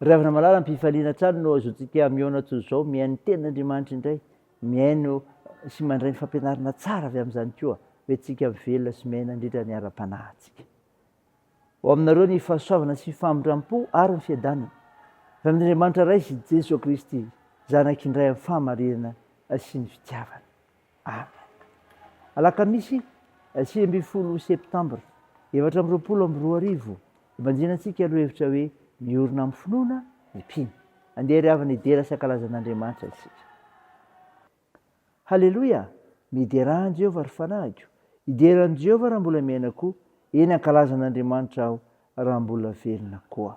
Ry havana malala, ampifaliana hatrany no azotsika mihaona toy izao, mihaino ny tenin' Andriamanitra indray, mihaino sy mandray ny fampianarana tsara avy amin'izany koa, hoe tsika velona sy miaina nandritra ny ara-panahintsika. Ho aminareo ny fahasoavana sy famindram-po ary ny fiadanana, avy amin' Andriamanitra Ray sy Jesoa Kristy Zanak'Indray amin'ny fahamarinana sy ny fitiavana. Alakamisy sivy ambin'ny folo septambra efatra amby roapolo amby roa arivo, ibanjinantsika ny lohahevitra hoe Miorina amin'ny finoana ny mpino. Andeha ry havana hidera sy hankalaza an'Andriamanitra isika. Haleloia! Miderà an'i Jehovah ry fanahiko! Hidera an'i Jehovah raha mbola miaina koa, eny hankalaza an'Andriamanitra aho raha mbola velona koa.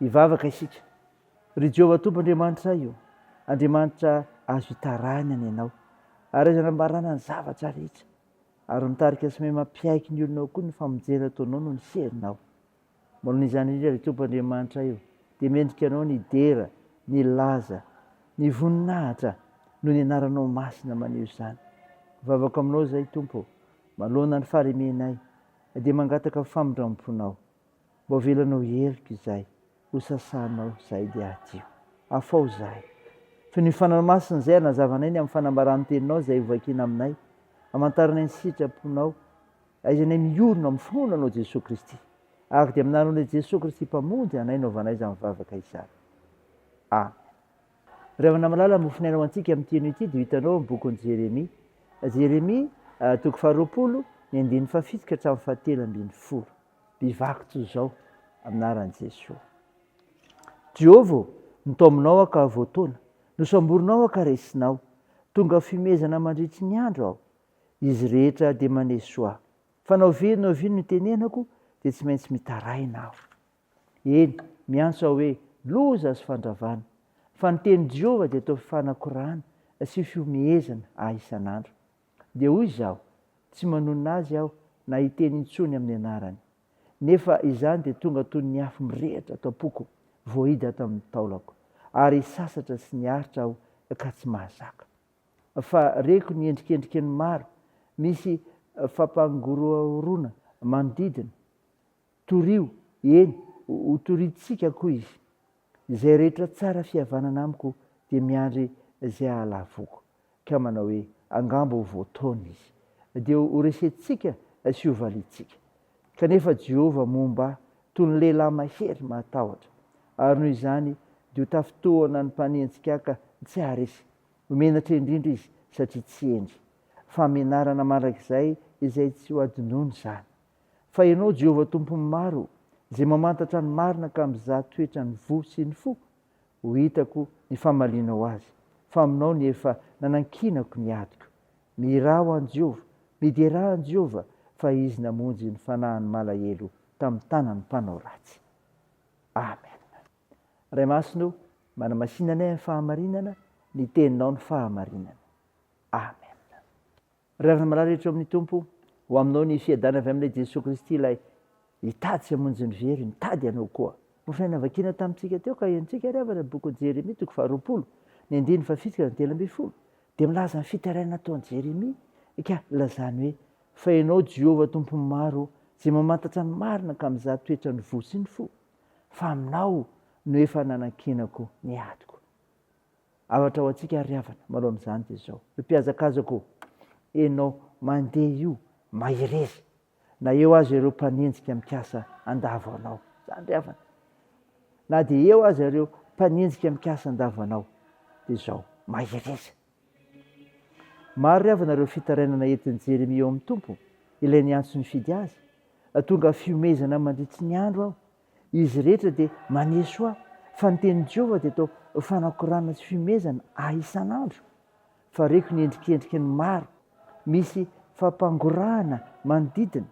Hivavaka isika. Ry Jehovah Tompo Andriamanitray ô, Andriamanitra azo itarahina ny Anao, ary azo anambarana ny zavatra rehetra, ary mitarika sy miha mampiaiky ny olonao koa ny famonjena ataonao noho ny herinao. Manao izany indrindra, ry Tompo Andriamanitray ô, dia mendrika Anao ny hidera, ny hilaza, ny hivoninahitra noho ny Anaranao Masina maneho izany. Mivavaka Aminao izay, Tompo ô, manoloana ny faharemenay, na dia mangataka ny famindram-ponao. Mbô avelanao heloka izay ho sasanao izay dia adio. Afao izay. Toy ny Fanahy Masina izay hanazavanay ny amin'ny fanambaràn-teninao izay ho vakiana aminay, hamantaranay ny sitraponao, ahaizanay miorina amin'ny finoana anao Jesoa Kristy, ary dia aminareo indray Jesoa Kristy Mpamonjy anay no hovanay izany vavaka izany. Amen. Ry havana malala, mofinaina ho antsika amin'ny teny ity dia ho hitanao ao amin'ny bokin'i Jeremia. Jeremia, toko faharoapolo, ny andininy fahafito ka hatramin'ny fahatelo ambin'ny folo. Bevako toy izao amin'ny anaran'i Jesoa. Jehovah ô, notaominao aho ka voataona, nosamborinao aho ka resinao. Tonga fihomezana mandritry ny andro aho. Izy rehetra dia maneso ahy. Fa na ovia na ovia no itenenako dia tsy maintsy mitaraina aho. Eny, miantso aho hoe loza sy fandravana. Fa ny tenin'i Jehovah dia toa fanakorana sy fihomehezana ahy isan'andro. Dia hoy izaho, Tsy manonona azy aho na hiteny intsony amin'ny anarany. Nefa izany dia tonga toy ny afo mirehitra ato am-poko, voahidy ato amin'ny taolako, ary sasatra sy niaritra aho ka tsy mahazaka. Fa reko ny endrikendriky ny maro, misy fampangorohoroana manodidina, Torio, eny, hotorintsika koa izy. Izay rehetra tsara fihavanana amiko dia miandry izay hahalavoako, ka manao hoe, Angamba ho voataona izy, dia horesentsika sy hovaliantsika. Kanefa Jehovah momba ahy toy ny lehilahy mahery mahatahotra, ary noho izany dia ho tafintohina ny mpanenjikaka tsy haharesy. Ho menatra indrindra izy satria tsy hendry. Fahamenarana mandrakizay izay tsy hohadinoina izany! Fa Ianao, Jehovah Tompon'ny maro, Izay mamantatra ny marina ka mizaha toetra ny voa sy ny fo, ho hitako ny famalianao azy, fa aminao ny efa nanankinako ny adiko. Mihirà ho an'i Jehovah, miderà an'i Jehovah, fa izy namonjy ny fanahin'ny malahelo tamin'ny tanan'ny mpanao ratsy. Amen. Ray Masina ô, manamasina anay amin'ny fahamarinana, ny Teninao ny fahamarinana. Amen. Ry havana malala rehetra ao amin'ny Tompo, ho aminao ny fiadana avy amin'ilay Jesoa Kristy ilay hitady sy hamonjy ny very, mitady ianao koa. Ohatr'ilay navakiana tamintsika teo ka henontsika ry havana ny bokin'i Jeremia toko faharoapolo, ny andininy fahafito ka hatramin'ny telo ambin'ny folo, dia milaza ny fitarainana ataon'i Jeremia ka lazany hoe, Fa ianao Jehovah Tompon'ny maro, izay mamantatra ny marina ka mizaha toetran'ny voa sy ny fo, fa aminao no efa nanankinako ny adiko. Avatra ho antsika ry havana manoloana izany dia izao, io mpihazakazako enao mandeha io mahereza na eo aza ireo mpanenjika mikasa handavo anao, izany ry havana, na dia eo aza ireo mpanenjika mikasa handavo anao dia izao mahereza. Maro ry havana ireo fitarainana entin'i Jeremia eo amin'ny Tompo, ilay niantso nifidy azy, tonga fihomezana mandritry ny andro aho Izy rehetra dia maneho soa fa ny tenin'i Jehovah dia toa fanakorana sy fihomezana ahy isan'andro, fa reko ny endrikendriky ny maro misy fampangorahana manodidina.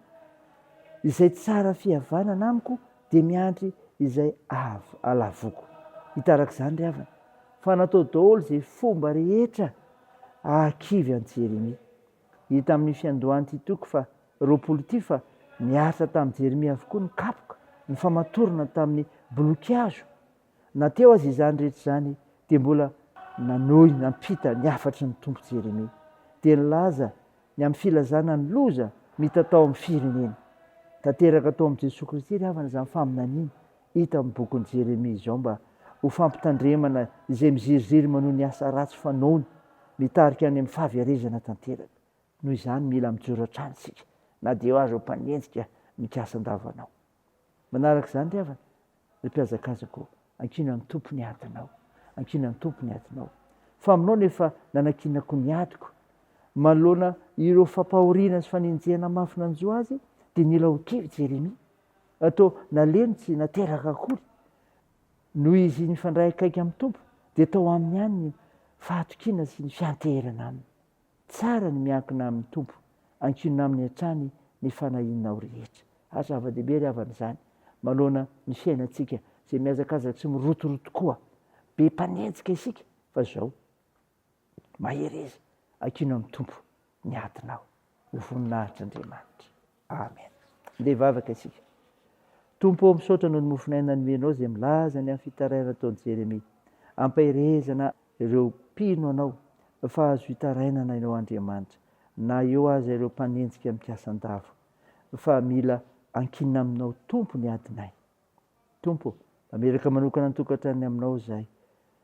Izay tsara fihavanana amiko dia miandry izay ahalavoako. Hitaraka izany ry havana, fa natao daholo izay fomba rehetra hahakivy an'i Jeremia. Hita amin'ny fiandohan'ity toko fa roapolo ity fa niaritra tamin'i Jeremia avokoa ny kapoka, ny famatorana tamin'ny bolokihazo. Na teo aza izany rehetra izany, dia mbola nanohy nampita ny hafatry ny Tompo Jeremia. Dia nilaza ny amin'ny filazana ny loza mitatao amin'ny firenena. Tanteraka tao amin'i Jesoa Kristy ry havana izany faminaniana hita amin'ny bokin'i Jeremia izao mba ho fampitandremana izay miziriziry manohy ny asa ratsy fanaony mitarika any amin'ny fahaverezana tanteraka. Noho izany, mila mijoro hatrany isika, na dia eo aza ho mpanenjika mikasa an-dava anao. Manaraka izany ry havana, ry mpihazakazaka ô, ankina ny Tompo ny adinao. Ankina ny Tompo ny adinao. Faminao no efa nanankinako ny adiko. Manoloana ireo fampahoriana sy fanenjehana mafy nanjo azy, dia nila ho kivy Jeremia. Toa nalemy tsy nateraka akory. Noho izy nifandray akaiky amin'ny Tompo, dia tao aminy ihany ny fahatokiana sy ny fianteherana Aminy. Tsara ny miankina amin'ny Tompo, ankinina Aminy hatrany ny fanahianao rehetra. Ary zava-dehibe ry havana izany, manoloana ny fiainantsika izay mihazakazaka sy mirotoroto koa. Be mpanenjika isika, fa izao, mahereza, ankino amin'ny Tompo ny adinao. Ho voninahitr'Andriamanitra. Amen. Ndeha hivavaka isika. Tompo ô, misaotra noho ny mofon'aina nomenao izay milaza ny amin'ny fitarainana ataon'i Jeremia. Ampaherezana ireo mpino anao fa azo hitarainana ianao Andriamanitra, na eo aza ireo mpanenjika mikasa an-dava. Fa mila ankinina aminao Tompo ny adinay. Tompo ô, mamiraka manokana ny tokantranony Aminao izahay,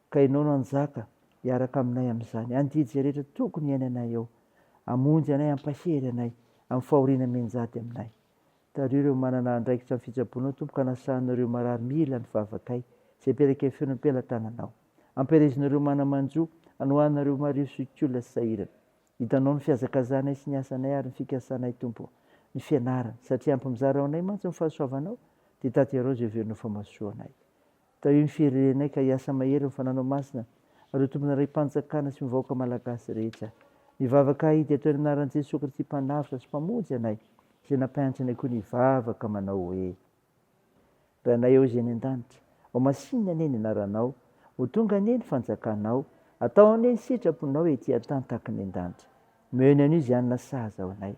ka Ianao no hanjaka hiaraka aminay amin'izany. Andidy izay rehetra tokony hiainanay eo. Hamonjy anay, hampahery anay, amin'ny fahoriana mianjady aminay. Tariho ireo manana andraikitra amin'ny fitsaboana, Tompo, ka anasahanao ireo marary mila ny vavakay, izay mipelaka feo no am-pelatananao. Ampiherezinao ireo mana-manjo, anohananao ireo mariho sohik'olona sahirana. Hitanao ny fihazakazahanay sy ny asanay ary ny fikasanay Tompo ô, ny fianarana, satria ampy mizara ho anay mantsy ny fahasoavanao, dia taterao izay heverina ho famasoanay. Tahio ny firerenay ka hiasa mahery ny fananao masina ary ho tompona raim-panjakana sy ny vahoaka malagasy rehetra. Mivavaka ahy dia atao eny anaran'i Jesoa Kristy Mpanavotra sy Mpamonjy anay izay nampianatra anay koa ny hivavaka manao hoe. Ranay ao izay any an-danitra. Ho masinina anie ny anaranao. Ho tonga anie ny fanjakanao. Atao anie ny sitraponao ety an-tany tahaka ny an-danitra. Miheno anio izay hanina sahaza ho anay.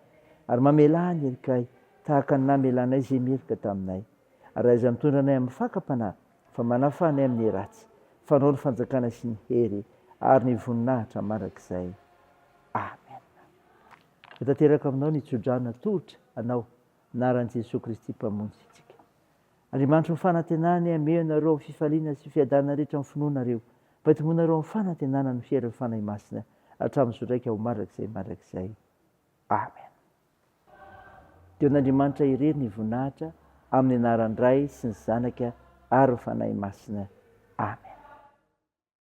Ary mamelà ny herikay tahaka ny namelanay izay meloka taminay. Ary aiza mitondra anay amin'ny fakam-panahy fa manafaha anay amin'ny ratsy. Fanao ny fanjakana sy ny hery ary ny voninahitra mandrakizay. Amena. Ho tanteraka aminao ny tsodrano natolotra anao. anaran'i Jesoa Kristy Mpamonjy antsika. Andriamanitry ny fanantenany hamehy anareo amin'ny fifaliana sy fiadanana rehetra amin'ny finoanareo, mba hitomboanareo amin'ny fanantenana ny fieran'ny Fanahy Masina hatramin'ny zotraika ho mandrakizay mandrakizay. Amen. Dia ho an'Andriamanitra irery ny voninahitra amin'ny anaran'ny Ray sy ny Zanaka ary ny Fanahy Masina. Amen.